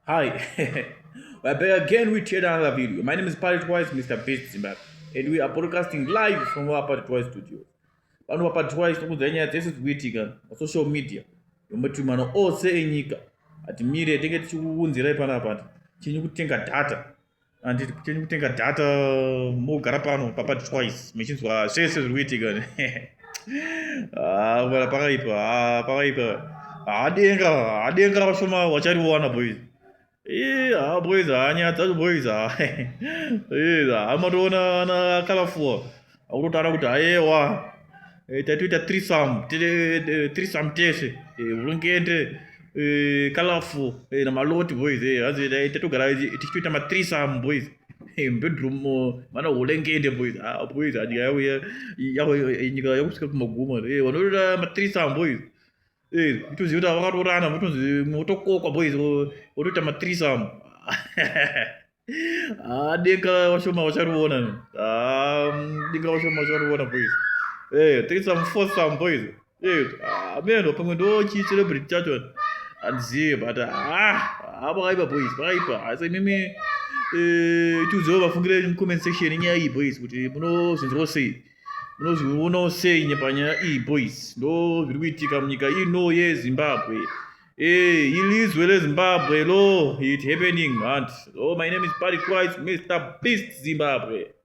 Hi, we're back again with yet another video. My name is Pirate Wise, Mr. Beast Zimbabwe, and we are broadcasting live from our Pirate Wise studio. Pano Pirate Wise tinokudzai nyaya dzese dzikuitika pasocial media yomatumano ose enyika. Hatimire tenge tichikuunzirai panapa chenyu kutenga data anditi kuteni kutenga data mogara pano papa twice mechinzwa zvese zviri kuitika ah, bana pakaipa ah, pakaipa hadenga ah, hadenga vashoma vachariwana boys ha boys hanyadza boys ha amatoona ana kalafuwa akutotaura kuti ayewa eh, tatoita trisam eh, trisam tese vurungende eh, colorful namaloti boys hanzi tatogara tichitoita matrisam boys bedroom mana hulengende boys ah, boys nyika yauya nyika yakusvika kumaguma vanotoita matrisam boys itoziva kuti vakatorana motonzi motokokwa boys votoita matrisam Ah, deka washoma wacharivona ni. Ah, deka washoma wacharivona boys. Eh, take some for some boys. Eh, ah, meno pamwe ndo chi celebrity chacho. Andizive but ah, ah pakaipa boys, pakaipa. Asi imimi eh tiudzeo vafungire mu comment section nyaya iyi boys kuti munozvinzwa sei. Munozviona sei nyepanyaya iyi boys. Ndo zviri kuitika munyika ino yeZimbabwe. Hey, eh, ilizwe lezimbabwe lo it happening hanti oh my name is party christ mr beast zimbabwe